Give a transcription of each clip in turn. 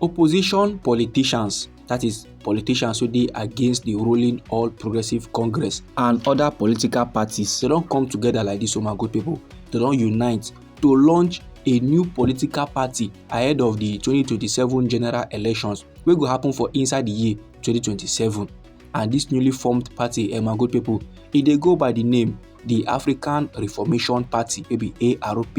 Opposition politicians, that is, politicians wey dey against the ruling All Progressive Congress and other political parties, they don come together like this, oh my good people. They don unite to launch a new political party ahead of the 2027 general elections wey go happen for inside the year 2027. And this newly formed party, eh, my good people, e dey go by the name the African Reformation Party, maybe ARP.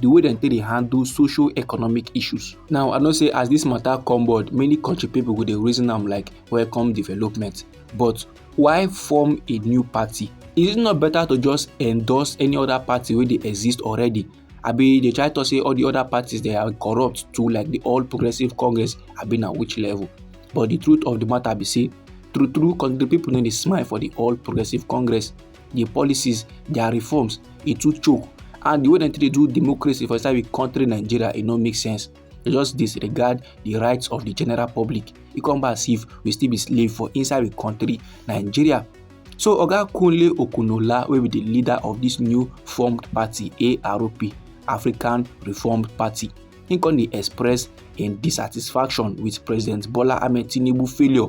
the way dem take dey handle social economic issues now i know say as this matter come board many country people go dey reason am like welcome development but why form a new party is it not better to just endorse any other party wey dey exist already abi dey try talk say all the other parties they are corrupt too like the all progressive congress abi na which level but the truth of the matter be say true true the people no dey smile for the all progressive congress their policies their reforms e too choke and the way dem take dey do democracy for inside we country nigeria e no make sense they just disregard the rights of the general public e come back as if we still be slave for inside we country nigeria so oga kunle okunola wey be the leader of this new formed party arp african reformed party he come dey express im dissatisfaction with president bola ahmed tinubu failure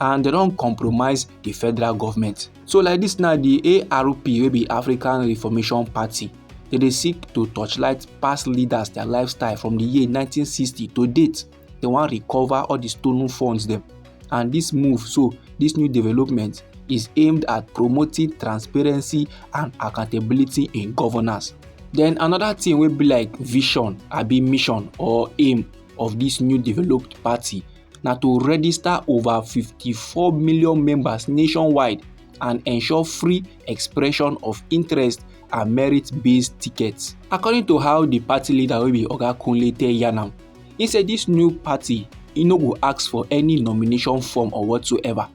and they don't compromise the federal government so like this now the arp wey be african reformation party they dey seek to torchlight past leaders their lifestyle from the year 1960 to date they wan recover all the stolen funds dem and this move so this new development is aimed at promoting transparency and accountability in governance then another thing wey be like vision abi mission or aim of this new developed party na to register over 54 million members nationwide and ensure free expression of interest and merit-based tickets. According to how the party leader wey be Oga Kunle tell yarn am, he say this new party e no go ask for any nomination form or whatsoever.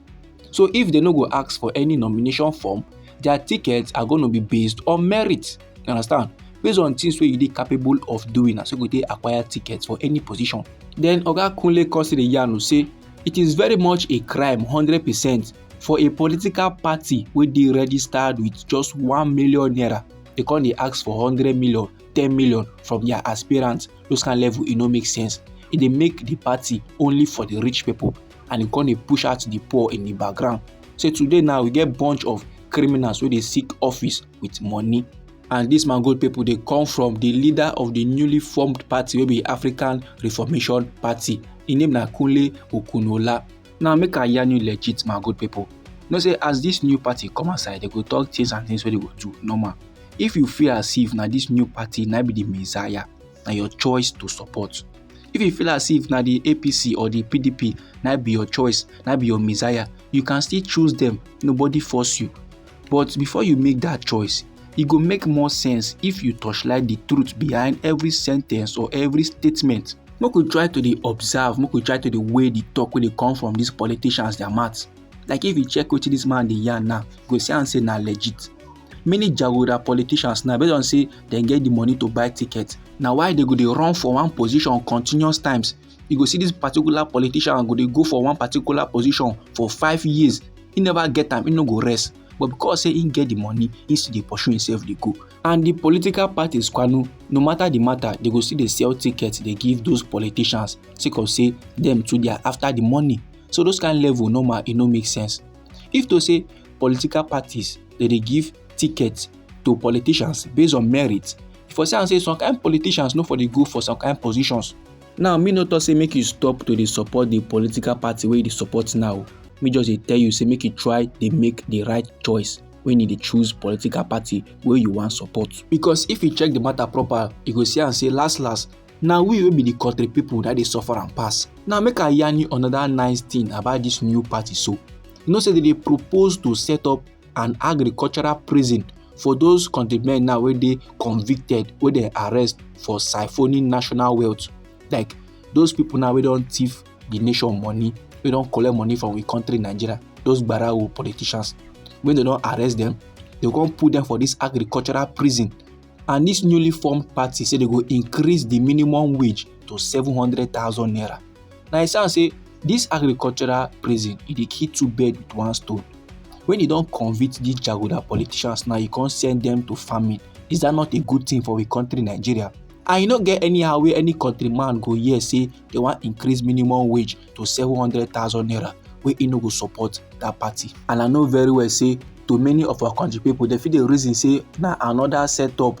So if they no go ask for any nomination form, their tickets are going to be based on merit. you understand based on things where you dey capable of doing na so go take acquire tickets for any position then oga kunle kosiri yanu say it is very much a crime 100 percent for a political party wey dey registered with just one million naira they come dey ask for hundred million ten million from their aspirants those kind level e no make sense e dey make the party only for the rich people and e come dey push out the poor in the background say today now we get bunch of criminals wey dey seek office with money and dis mangold pipo dey come from di leader of di newly formed party wey be african reformation party im name na kunle okunola now make i yarn you legit mangold pipo know say as dis new party come outside dem go talk things and things wey dem go do normal if you feel as if na dis new party na be di messiah na your choice to support if you feel as if na di apc or di pdp na be your choice na be your messiah you can still choose dem nobody force you But before you make that choice, e go make more sense if you torchlight the truth behind every sentence or every statement. Make we try to dey observe, make we try to dey weigh the talk wey dey come from these politicians their mouth. Like if you check wetin this man dey yarn now, you go see am say na legit. Many jagoda politicians now based on say dem get the money to buy ticket, na why they go dey run for one position continuous times you go see this particular politician go dey go for one particular position for five years he never get am he no go rest but because say he get the money he still dey pursue himself dey go and the political parties kwanu no matter the matter they go still dey sell tickets dey give those politicians sake of say them too dey after the money so those kind level normal e no make sense if to say political parties dey dey give tickets to politicians based on merit for say am say some kind politicians no for dey go for some kind positions now me no talk say make you stop to dey support the political party wey you dey support now me just dey tell you say make you try dey make the right choice when you dey choose political party wey you wan support because if you check the matter proper you go see am say last last na we wey be the country people na dey suffer am pass now make i yarn you another nice thing about this new party so you know say they dey propose to set up and agricultural prison for those kontri men now wey dey convicted wey dem arrest for siphoning national wealth like those people now wey don thief the nation money wey don collect money from we country nigeria those gbarawo politicians wey dem don arrest them they come put them for this agricultural prison and this newly formed party say they go increase the minimum wage to seven hundred thousand naira na e sound say this agricultural prison e dey kill two birds with one stone when e don convict these jagoda politicians now e come send them to farming is that not a good thing for a country nigeria and e no get anyhow wey any country man go hear say they wan increase minimum wage to seven hundred thousand naira wey e no go support that party and i know very well say to many of our country people dem fit dey reason say na another setup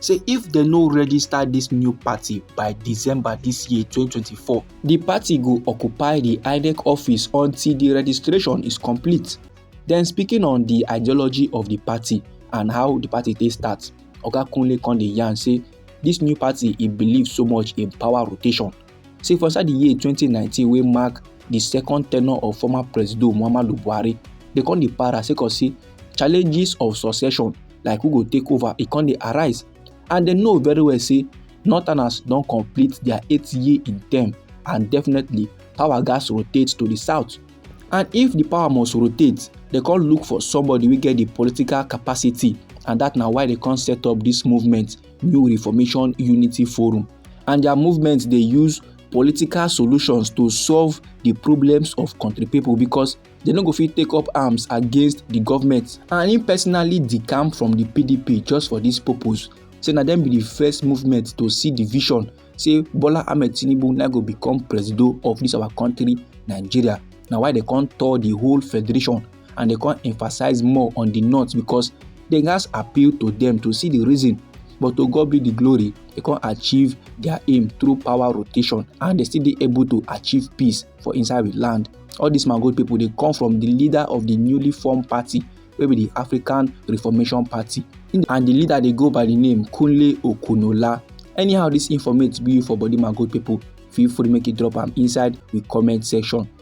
say if dem no register dis new party by december dis year 2024 di party go occupy di inec office until di registration is complete den speaking on di ideology of di party and how di party take start oga kunle come dey yarn say dis new party e believe so much in power rotation say for inside di year 2019 wey mark di second tenure of former presido muhammadu buhari dey come dey para sake of say challenges of succession like who go take over e come dey arise and dem know very well say northerners don complete dia eight year in term and definitely power gas rotate to di south and if di power must rotate dem come look for somebody wey get di political capacity and dat na why dem come set up dis movement new reformation unity forum and their movement dey use political solutions to solve di problems of kontri pipo becos dem no go fit take up arms against di government and im personally decamp from di pdp just for dis purpose say na dem be di first movement to see di vision say bola ahmed tinubu na go become presido of dis our kontri nigeria na why dem come tour di whole federation and they come emphasize more on the north because they gats appeal to them to see the reason but to God be the glory they come achieve their aim through power rotation and they still be able to achieve peace for inside the land all these mango people they come from the leader of the newly formed party wey be the african reformation party and the leader dey go by the name kunle okunola anyhow this informate be for body mango people feel free make you drop am inside the comment section